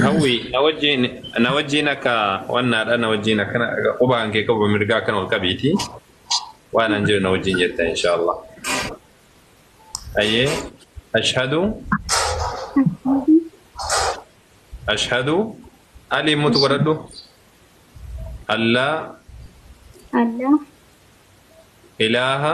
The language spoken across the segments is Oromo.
Hawwi na wajjin na wajjin akka wannaadha na wajjin akkana qubaan kee qabu mirgaa akkana ol qabiiti waan an jiru na wajjin jetta inshaallah. Ayyee ashhadu ashhadu alii mutu godhadhu allaa Allah ilaaha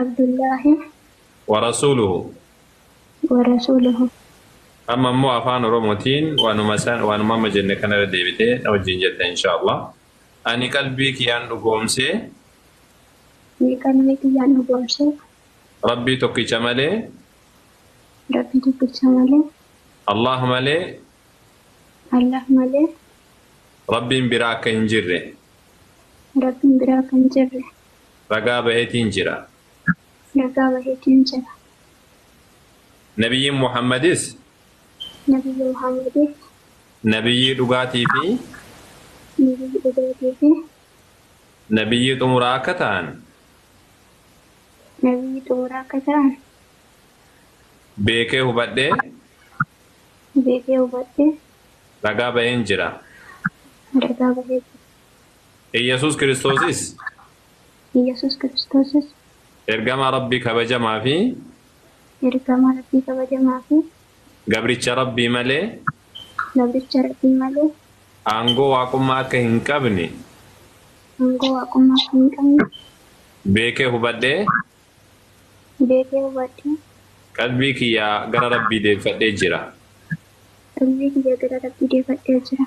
Abdullaahi warasuuluhu wa rasuuluhu. amma immoo afaan oromootiin waanuma san waanuma amma jenne kanarra deebitee na wajjin jetta inshaallah ani qalbii kiyyaan dhugoomsee Ni qalbii kiyyaan dhugoomsee rabbii tokkicha malee Rabbii tokkicha malee allah malee Allah malee rabbiin biraa akka hin jirre Rabbiin biraa kan jirre Ragaa bahetiin jira. Ragaa bahetiin jira. Nabiyyiin Muhammadis. Nabiyyi Muhammadis. Nabiyyii dhugaatii fi. Nabiyyii dhugaatii fi. Nabiyyii xumuraa akka ta'an. Nabiyyii xumuraa akka ta'an. Beekee hubadhee. Beekee hubadhee. Ragaa baheen jira. Ragaa bahee jira. Iyyasuus Kiristoosis. Iyyasuus Kiristoosis. Ergamaa Rabbii kabajamaa fi. Ergamaa Rabbii kabajamaa fi. Gabricha Rabbii malee. Gabricha Rabbii malee. Aangoo Waaqummaa akka hin qabne. Aangoo Waaqummaa akka hin qabne. Beekee hubadhee. Beekee hubadhee. Qalbii kiyya gara Rabbii deebifadhee jira. Qalbii kiyya gara Rabbii deebifadhee jira.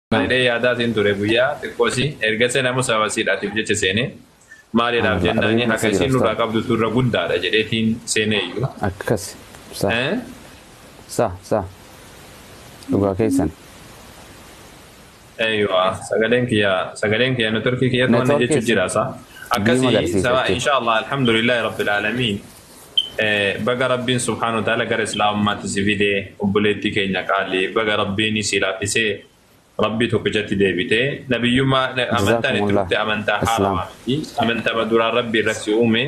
jedhee yaadaa siin ture guyyaa xiqqoosi ergase namu sababa siidhaatiif jecha seene maaliidhaaf jennaani haka isiin nurraa qabdu turra guddaadha jedheetiin seeneeyyu. Akkas sa sa sa dhugaa keessan. Eeywa sagaleen kiyya sagaleen kiyya networkii kiyya to'anne jechuun jira sa akkasii sabaa inshaa Allah alhamdulillah rabbil aalamiin. Baga Rabbiin subhaanahu wa ta'aala gara Islaamummaatti si fide obboleettii keenya qaalii baga Rabbiin si laaffisee Rabbii tokkichatti deebite nabiyyummaa amantaan itti dhufte amantaa haarawa miti amantama duraan Rabbii irra si uume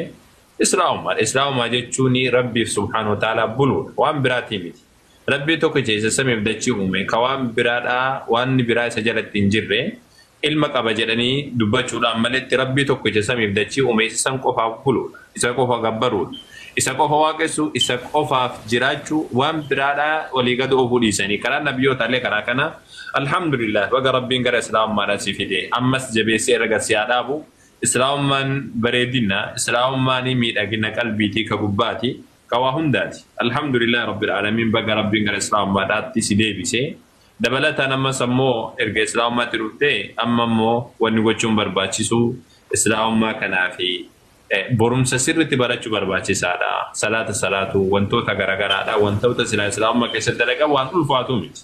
Islaamummaadha Islaamummaa jechuun Rabbiif subhaanahu wa ta'aala buluudha waan biraatii miti Rabbii tokkicha isa samiif dachii uume ka waan biraadhaa waanni biraa isa jalatti hin jirre ilma qaba jedhanii dubbachuudhaan maletti Rabbii tokkicha samiif dachii uume isa san qofaaf buluudha isa qofa gabbaruudha isa qofa waaqessuu isa qofaaf jiraachuu waan biraadhaa walii gad oofuu dhiisanii karaa nabiyootaallee karaa kana Alhamdulillaah baga Rabbiin gara islaamummaadhaa si fide ammas jabeessee irra si haa dhaabu islaamummaan bareedina islaamummaan miidhagina qalbiitii ka gubbaati Ka waa hundaati. Alhamdulillah Rabbil Aalamiin baga Rabbiin gara Islaamummaadhaatti si deebise. Dabalataan ammas ammoo erga Islaamummaatti dhuftee amma ammoo wanni gochuun barbaachisu Islaamummaa kanaaf borumsa sirritti barachu barbaachisaadha. Salaata salaatuu, wantoota garagaraadha. Wantoota silaa Islaamummaa keessatti dalagan waan ulfaatu miti.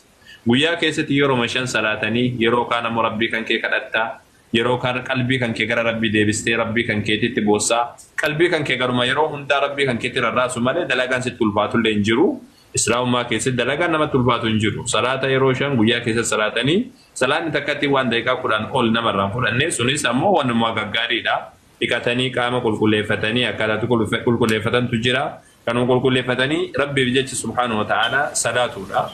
Guyyaa keessatti yeroma shan salaatanii yeroo kaan ammoo Rabbii kankee kadhatta. Yeroo kan qalbii kan kee gara Rabbii deebistee Rabbii kan keetiitti boossaa. Qalbii kan kee garuma yeroo hundaa Rabbii kan keetti rarraasu malee dalagaan sitti ulfaatullee hin jiru. Islaamummaa keessatti dalagaan namatti ulfaatu hin jiru. Salaata yeroo shan guyyaa keessatti salaatanii salaanni takkattiin waan daqiiqaa kudhan ol nama irraa hin fudhanne sunis ammoo wanuma gaggaariidha. dhiqatanii qaama qulqulleeffatanii akkaataa itti qulqulleeffatantu jira. Kanuma qulqulleeffatanii Rabbiif jecha subhaanahu wa ta'aalaa salaatuudha.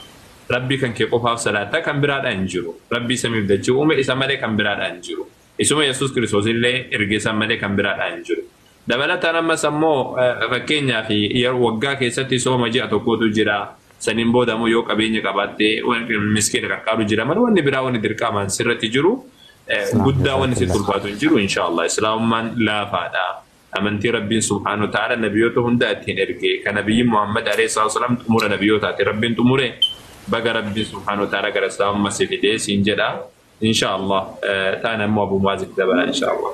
Rabbii kan kee qofaaf salaatta kan biraadhaa hin jiru. Rabbii samiif dachii uume isa malee kan biraadhaa hin jiru. Isuma Yesuus Kiristoos illee erge san malee kan biraadhaa hin jiru. Dabalataan ammas ammoo fakkeenyaaf waggaa keessatti sooma ji'a tokkootu jira. Saniin booda ammoo yoo qabeenya qabaatte miskiina qarqaaru jira malee wanni biraa wanni dirqaamaan sirratti jiru guddaa wanni sitti ulfaatu hin jiru inshaallah islaamummaan laafaadha. Amantii Rabbiin subhaanahu wa ta'aala nabiyoota hunda ittiin erge kan nabiyyiin Muhammad alayhi salaatu wasalaam xumura nabiyootaati Rabbiin xumure baga Rabbiin subhaanahu wa ta'aala gara islaamummaa si fidee siin jedha. insha allah taana immoo abu muazitti dabala insha allah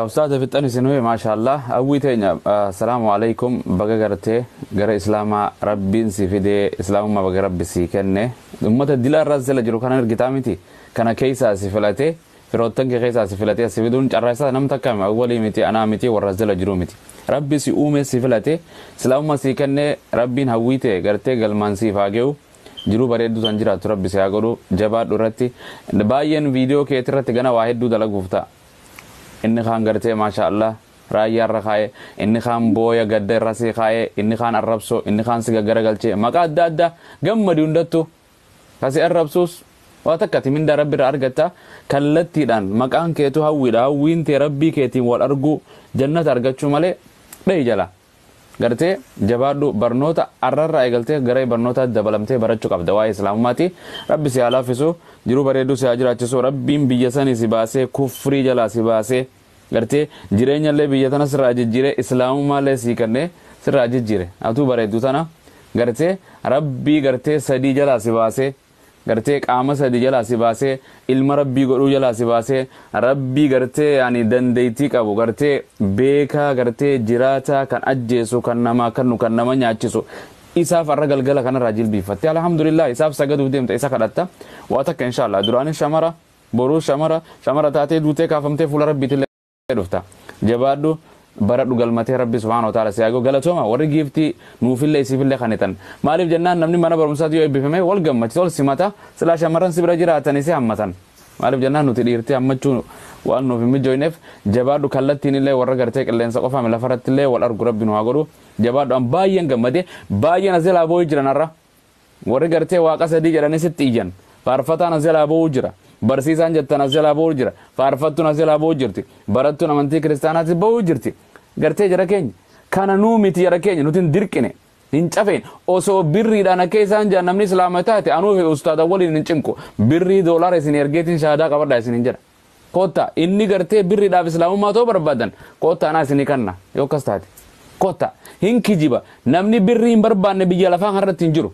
Ustaaza fixxan isin huye maashaallah hawwii teenya assalaamu alaikum baga gartee gara islaamaa rabbiin si fidee islaamummaa baga rabbi sii kenne ummata dila irraa sila jiru kana argitaa miti kana keessaa si filate firoottan kee keessaa si filate si fiduun carraa isaa nam takka hima awwalii miti anaa miti warra sila jiru miti rabbi si uume si filate islaamummaa sii kenne rabbiin hawwii tee gartee galmaan siif haa ge'u Jiruu bareedduu tan jiraattu rabbi si haa godhu jabaadhu irratti baay'een viidiyoo keeti irratti gana waa hedduu dalaguuf ta'a inni kaan gartee maashaa allah raayyaa irra kaa'ee inni kaan booya gadda irra si kaa'ee inni kaan arrabsoo inni kaan si gaggaragalchee maqaa adda addaa gammadi hundattu kasi arrabsuus waa takka ati mindaa rabbi irraa argatta kallattiidhaan maqaan keetu hawwiidha hawwiin tee rabbii keetiin wal arguu jannata argachuu malee dhahi jalaa Gartee jabaadhu barnoota arrarraa eegaltee garee barnootaatti dabalamtee barachu qabda waa'ee islaamummaati rabbi si haa laaffisu jiruu bareedduu si haa jiraachisu rabbiin biyya sanii si baasee kufrii jalaa si baasee gartee jireenyallee biyya tana sirraa jijjiiree islaamummaallee sii kennee sirraa jijjiire atuu bareeddu tana gartee rabbii gartee sadii jalaa si baasee gartee qaama sadi jalaa si baasee ilma rabbii godhuu jalaa si baasee rabbii gartee yaani dandeettii qabu gartee beekaa gartee jiraataa kan ajjeesu kan namaa kannu kan nama nyaachisu isaaf arra galgala kanarraa jilbiiffatte alhamdulillah isaaf sagaduuf deemta isa kadhatta waa takka inshaallah duraanis shamara boruus shamara shamara taatee duutee kaafamtee fuula rabbiitillee dhufta jabaadhu baradhu galmatee rabbi subhaana wa taala siyaago galatooma warri giiftii nuufillee isiifillee kanitan maaliif jennaan namni mana barumsaati yoo eebbifame wal gammachisa wal simata silaa shamarran si bira jiraatan isii hammatan maaliif jennaan nuti dhiirtii hammachuu waan nuuf hin mijoyneef jabaadhu kallattiin illee warra gartee qilleensa qofaame lafarratti illee wal argu rabbi nu haa godhu jabaadhu an baay'een gammade baay'een as jalaa boo'ii jiran har'a Warri gartee waaqa sadii jedhanii sitti iyyan. Faarfataan as jalaa ba'uu jira. Barsiisaan jettan as jalaa ba'uu jira. Faarfattuun as jalaa ba'uu jirti. Barattuun amantii kiristaanaatti ba'uu jirti. Gartee jara keenya. Kana nuu miti jara keenya nuti hin dirqine. Hin cafeen osoo birriidhaan akka isaan jaan namni islaama taate anuu fi ustaada waliin hin cinqu. Birrii doolaara isin ergeetiin shahaadaa qabadhaa isin hin jedha. Kotta inni gartee birridhaaf islaamummaa too barbaadan kotta anaa isinii kanna yoo akkas taate kotta hin kijiba namni birrii hin barbaanne biyya lafaa kanarratti hin jiru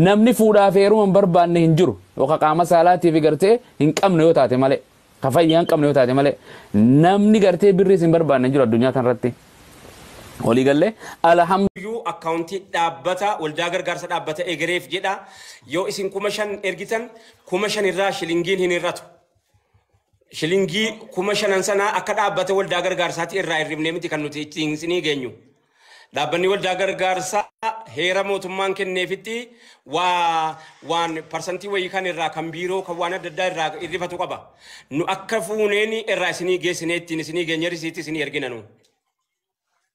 namni fuudhaaf heeruma hin barbaanne hin jiru yoo ka qaama saalaatiif gartee hin qabne yoo taate malee ka fayyaa hin qabne yoo taate malee namni gartee birriis hin barbaanne hin jiru addunyaa kanarratti walii gallee alhamdu iyyuu akkaawuntii dhaabbata waldaa gargaarsa dhaabbata egereef jedha yoo isin kuma shan ergitan kuma shan irraa shilingiin hin hir'atu. Shilingii kuma shanan sanaa akka dhaabbata waldaa gargaarsaatti irraa hir'ifnee miti kan nuti ittiin isinii geenyu. Dhaabbanni waldaa gargaarsaa heera mootummaan kenneefitti waa waan parsantii wayii kan irraa kan biiroo kan waan adda addaa irraa hir'ifatu qaba. Nu akka fuuneen irraa isinii geessinee ittiin isinii geenye risiitti isinii ergina nu.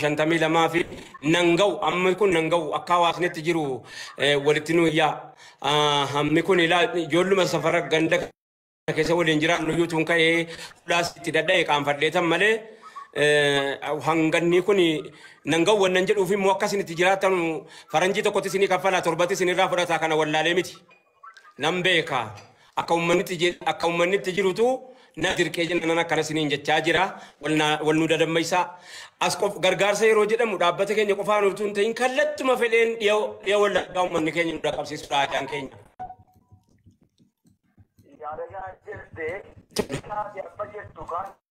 shantamii lamaa fi nan ga'u amma kun nan ga'u akka hawaasni itti jiru eh, walitti nu iyyaa Ah, hammi kun ilaa ijoolluma safara ganda keessa waliin jiraannu iyyuu tun ka'ee fulaas itti dadha'e qaanfadheetan malee eh, hangannii kun nan ga'u wannan jedhuuf immoo akka isin itti jiraatanu faranjii tokkotti isinii kaffalaa torbatti isinirraa fudhataa kana wallaalee miti. Nan beeka. Akka ummannitti je- akka ummannitti jirutu na dirqee jenna nan akkana siniin jechaa jira. Wal na- wal nu dadammaysaa. As qof gargaarsa yeroo jedhamu dhaabbata keenya qofaan utuu hin ta'in kallattuma fedheen dhiya dhiya wallaggaa ummanni keenya nu dhaqqabsiisudha aadaan keenya. Yaada kana jette, taate amma jettu kan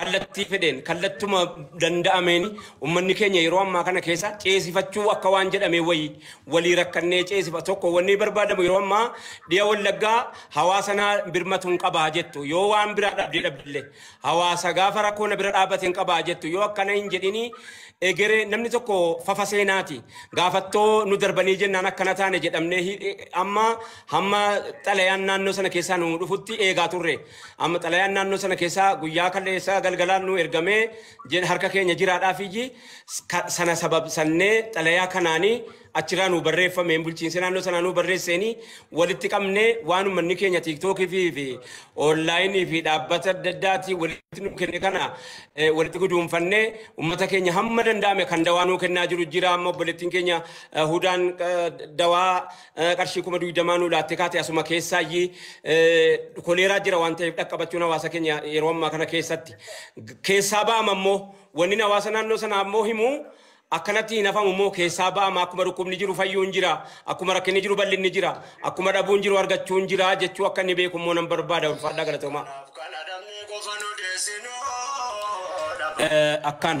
kallattii fedheen kallattuma danda'ameen ummanni keenya yeroo ammaa kana keessa ceesifachuu akka waan jedhamee wayii walii rakkannee ceesifa tokko wanni barbaadamu yeroo ammaa dhiya wallaggaa hawaasa naa birmatuun qabaa jettu yoo waan biraa dhabdee dhabdillee hawaasa gaafa rakkoo na bira dhaabbateen qabaa jettu yoo akkana hin jedhini egeree namni tokko fafa seenaati gaafattoo nu darbanii jennaan akkana taane jedhamnee hi- amma hamma xalayaan naannoo sana keessaa nu dhufutti eegaa turre. Amma xalayaan naannoo sana keessaa guyyaa kalleessaa galgalaan nuu ergamee jin harka keenya jiraadhaa fi ji ka- sana sababsannee xalayaa kanaanii achiraa nuu barreeffameen bulchiinsi naannoo sanaa nuu barreesseenii walitti qabnee waan uummanni keenya tiiktookii fi fi oonlaayinii fi dhaabbata adda addaatii walitti nuu kenne kana eh, walitti guduunfannee uummata keenya hamma danda'ame kan dawaa nuu kennaa jiru jira amma obboleettiin keenya eh, hudaan eh, dawaa qarshii kuma digdamaa nuu laatte kaate asuma keessaayi koleeraa jira waan ta'eef dhaqqabachuun hawaasa keenya yeroo ammaa kana keessatti keessaa ba'ama immoo wanni hawaasa naannoo sanaa immoo himu akkanatti hin hafamu immoo keessaa ba'ama akkuma dhukkubni jiru fayyuun jira akkuma rakkinni jiru bal'inni jira akkuma dhabuun jiru argachuun jira jechuu akka inni beeku immoo nan barbaada ulfaadhaa galatoomaa. Kanaaf kan adabnee qofa nu deessinoo. Akkaan.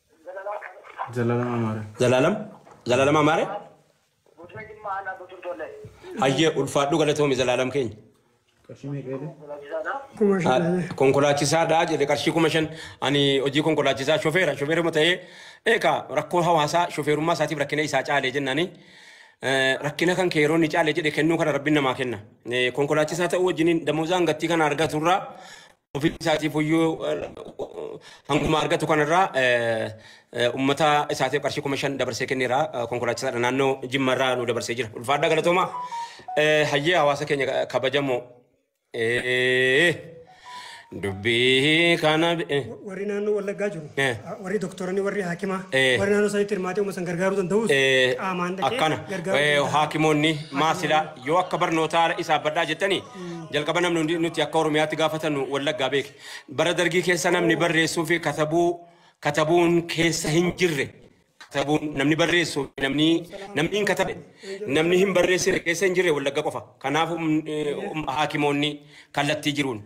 Zalaalam Amaare. Zalaalam Zalaalam Amaare. Godina Jimmaa aanaa Guutuun Tollee. Hayyee ulfaadhu galatoomi Zalaalam keenya. Qarshii meeqa jedhe? Konkolaachisaadha. Kuma Ah, shaname. Konkolaachisaadha jedhe qarshii kuma shan ani hojii konkolaachisaa shofeera shofeeruma ta'ee eegaa rakkoo hawaasaa shofeerummaa isaatiif rakkina isaa caalee jennaani eh, rakkina kan kee yeroo inni caalee jedhe kennuu kana rabbiin namaa kenna Eh, konkolaachisaa ta'uu wajjiniin damoozaan gattii kana argaturraa ofii isaatiif iyyuu hanguma argatu kanarraa ummata isaatiif qarshii kuma shan dabarsee kenneera konkolaachisaadha naannoo jimma irraa nu dabarsee jira ulfaadhaa galatooma hayyee hawaasa keenya kabajamoo dubbii kana warri naannoo wallaggaa jiru Eh. warri doktoronni warri haakimaa Eh. warri naannoo sanitti hirmaatee uummata san gargaaruu danda'us qaamaan dhaqee akkana gargaaruu eh, danda'a. haakimoonni maasilaa yoo akka barnootaa isaaf badhaa jettanii Jalqaba namni hundi nuti akka Oromiyaatti gaafatannu Wallaggaa beeke. Bara dargii keessa namni barreessuu fi katabuu katabuun keessa hin jirre. Katabuun namni barreessu namni namni hin katabe namni hin barreessine keessa hin jirre Wallagga qofa. Kanaaf um, eh, um, haakimoonni kallattii jiruun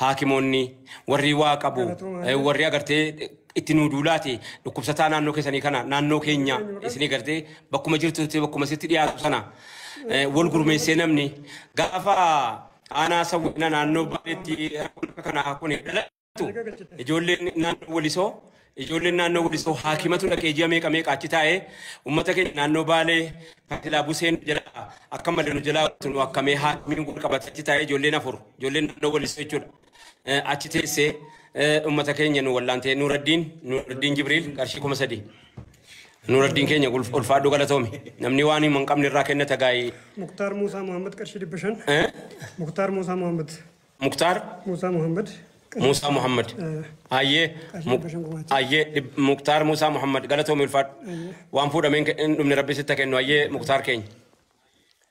haakimoonni warri waa qabu eh, warri agartee itti nuu duulaati dhukkubsataa naannoo keessanii kana naannoo keenya isinii gartee bakkuma jirtutti bakkuma sitti dhiyaatu sana eh, wal gurmeessee namni gaafa aanaa sawwina naannoo baaleetti rakkoon akka kanaa kun dhalatu ijoolleen naannoo walisoo ijoolleen naannoo walisoo haakimatu dhaqee ji'a meeqa meeqa achi taa'ee uummata keenya naannoo baalee kan silaa buseen jalaa akka malee nu jalaa nu akkamee haakimiin wal qabate achi taa'ee ijoolleen afur ijoolleen naannoo walisoo jechuudha. eh, achi teessee eh, ummata keenya nu wallaantee Nuuraddiin Nuuraddiin Jibriil qarshii kuma sadii. Nuuraddiin keenya ulf- ulfaadhu galatoomi. Namni waan hima hin qabne irraa kenna tagaayii. Muktaar Muusaa Muhammad qarshii dhibba shan. Eh? Muktaar Muusaa Muhammad. Muktaar Muusaa Muhammad. Muusaa Muhammad. Ayyee. Qarshii Muk- dhibba shan gumaacha. Ayyee dhib- Muktaar Muusaa Muhammad galatoomi ulfaadhu. Waan fuudhameen ke- hin dhumne rabbi sitti haa kennu ayyee Muktaar keenya.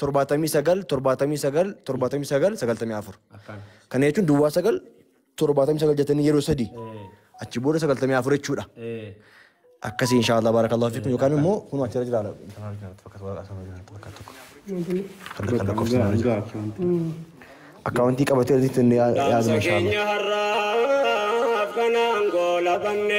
torbaatamii sagal torbaatamii sagal torbaatamii sagal sagaltamii afur Akkaan. kana jechuun duwwaa sagal torbaatamii sagal jettanii yeroo sadii Eh, achi booda sagaltamii afur jechuudha eh. akkasii inshaallah baarakallahu fiikum yookaan immoo kun achirra jira laala kanarra jira bakka waraqaa kanarra jira bakka tokko kan kan lakkoofsa kanarra jira akkaawuntii qabatee asitti inni yaadame inshaallah. Keenya har'aaf kanaan goolabanne.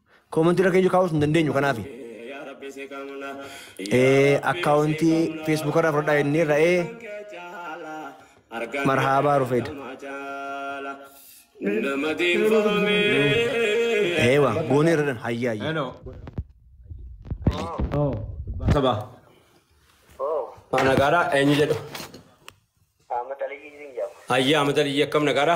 Comment irra keenya kaa'uus hin dandeenyu kanaafi. Ee account Facebook irraa fudhadhaa jennee ra'ee marhaabaa rufeed. Ee waa goonee irra dhan hayyaa hayyaa. Hello. Oh. Sabaa. Maa nagaadha eenyu jedhu. Hayyaa mata liyyii akkam nagaadha.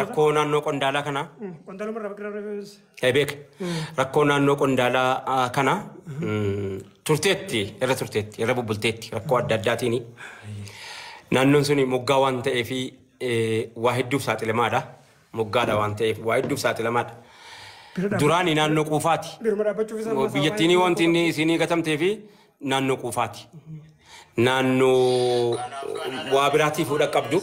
Rakkoo naannoo qondaalaa kanaa. Qondaaluma irraa bakka irraa Beek rakkoo naannoo qondaalaa kana turteetti irra turteetti irra bubbulteetti rakkoo adda addaatiin naannoon sun moggaa waan ta'eef waa hedduuf saaxilamaadha. moggaadha waan ta'eef waa hedduuf saaxilamaadha. Bira dhaabbachuu Duraani naannoo quufaati. biruma dhaabbachuuf isaa ammaa isaa waa Biyyattiinii hedduun wanti rakkoo inni qabdi. isiinii gatamtee fi naannoo quufaati. Naannoo waa biraatii fuudha qabdu.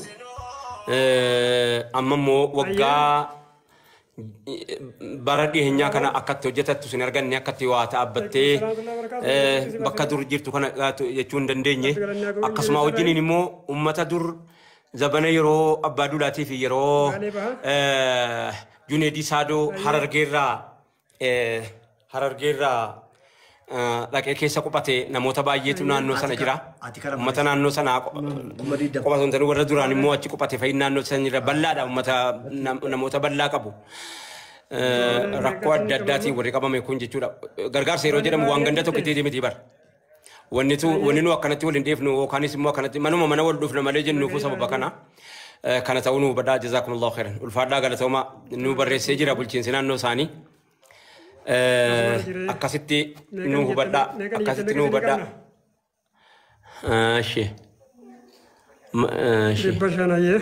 Eh, Amma immoo waggaa bara dhiheenyaa kana akkatti hojjetattu sin arganne akkatti waa dhaabbattee eh, bakka dur jirtu kana gaatu jechuu hin dandeenye. Akkasuma wajjiniin immoo uummata dur Zabana yeroo Abbaa Duulaatii fi yeroo Baalee baha. eh, Juneedii Saadoo Ayyee. Harargeerraa eh, Harargeerraa eh, dhaqee keessa quphate namoota baay'eetu Ayyee. naannoo sana Ati jira. ka- ati kana Uummata malee- naannoo sanaa qo- Kuma digdama. qofa osoo hin taane warra duraan immoo achi quphate fa'iin naannoo sana jira. Bal'aadha uummata nam- namoota bal'aa qabu. Eh, Rakkoo adda addaatiin warri qabame kun jechuudha. Gargaarsa yeroo jedhamu waan ganda tokko itti miti bara. Wannitu wanni nu akkanatti wal hin dheefnu yookaanis immoo akkanatti manuma mana wal dhufna malee jennuufu sababa kana. Eh, Kana ta'uu nu hubadhaa jazaakumullahu khairan. Ulfaadhaa galatoomaa nu barreessee jira bulchiinsi naannoo isaanii. Eh, Akkasitti nu hubadhaa akkasitti nu hubadhaa. Ah, Ishee. Ma- ah, Ishee. Dhibba shan ayyee.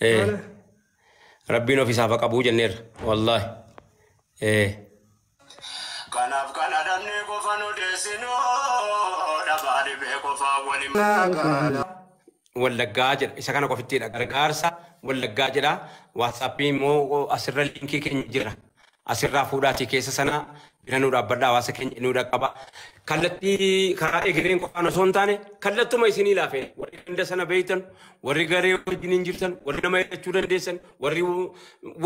Eh, Maala? Rabbiin of isaaf haa qabuu jenneerra. Wallaahi. Eh. Kanaaf kan adabnee qofa nu deessinu dhabaa dhibee qofaa waliin magaalaa. Wallaggaa jedha. Isa kana qofittiidha. Gargaarsa Wallaggaa jedha. Waatsaappii immoo asirra liinkii keenya jira. Asirraa fuudhaatii keessa sana bira nu dhaabbadha hawaasa keenya nu dhaqqaba. Kallattii karaa egereen qofaan osoo hin taane kallattuma isinii laafee warri ganda sana beektan warri garee wajjiniin jirtan warri nama hidhachuu dandeessan warri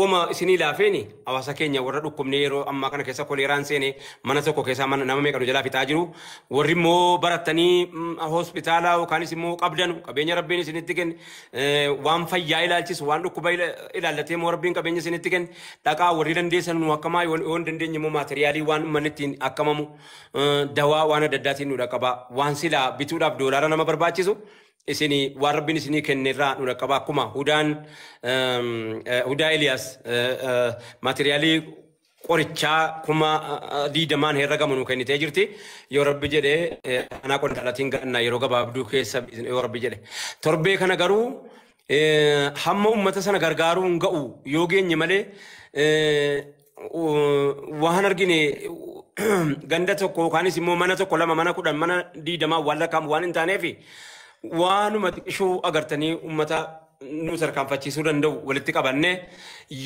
wama isinii laafeeni hawaasa keenya warra dhukkubnee yeroo ammaa kana keessa koleeraan seenee mana tokko keessaa mana nama meeqa nu jalaa fixaa jiru warri immoo barattanii mm, hospitaala yookaanis immoo qabdanu qabeenya rabbiin isinitti kenne Eh, waan fayyaa ilaalchisu waan dhukkuba ila- ilaallatee moo rabbiin qabeenya isinitti kenne dhaqaa warri dandeessan nu akkamaa yoo yoo hin dandeenye immoo maateriyaalii waan ummanni ittiin akkamamu eh, dawaa waan adda addaatiin nu dhaqqabaa waan silaa bituudhaaf doolaara nama barbaachisu isinii waan rabbiin isinii kenne irraa nu dhaqqabaa akkuma hudaan ehm, eh, hudaa Eliyaas eh, eh, maateriyaalii qorichaa kuma diidamaan herragamu nu kennitee jirti. Yoo rabbi jedhe anaa qondaalatiin ganna yeroo gabaabduu keessa yoo rabbi jedhe. Torbee kana garuu hamma ummata sana gargaaruu hin ga'u yoo geenye malee waan argine ganda tokko yookaanis immoo mana tokko lama mana kudhan mana diidamaa waan lakkaa'amu waan hin taaneef waanuma xiqqishuu agartanii ummata nu tarkaanfachiisuu danda'u walitti qabannee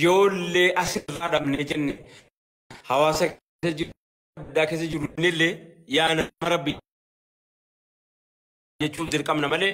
yoollee asirraa dhabnee jenne hawaasa keessa jiru addaa keessa jiru illee yaa nama rabbi jechuun dirqamna malee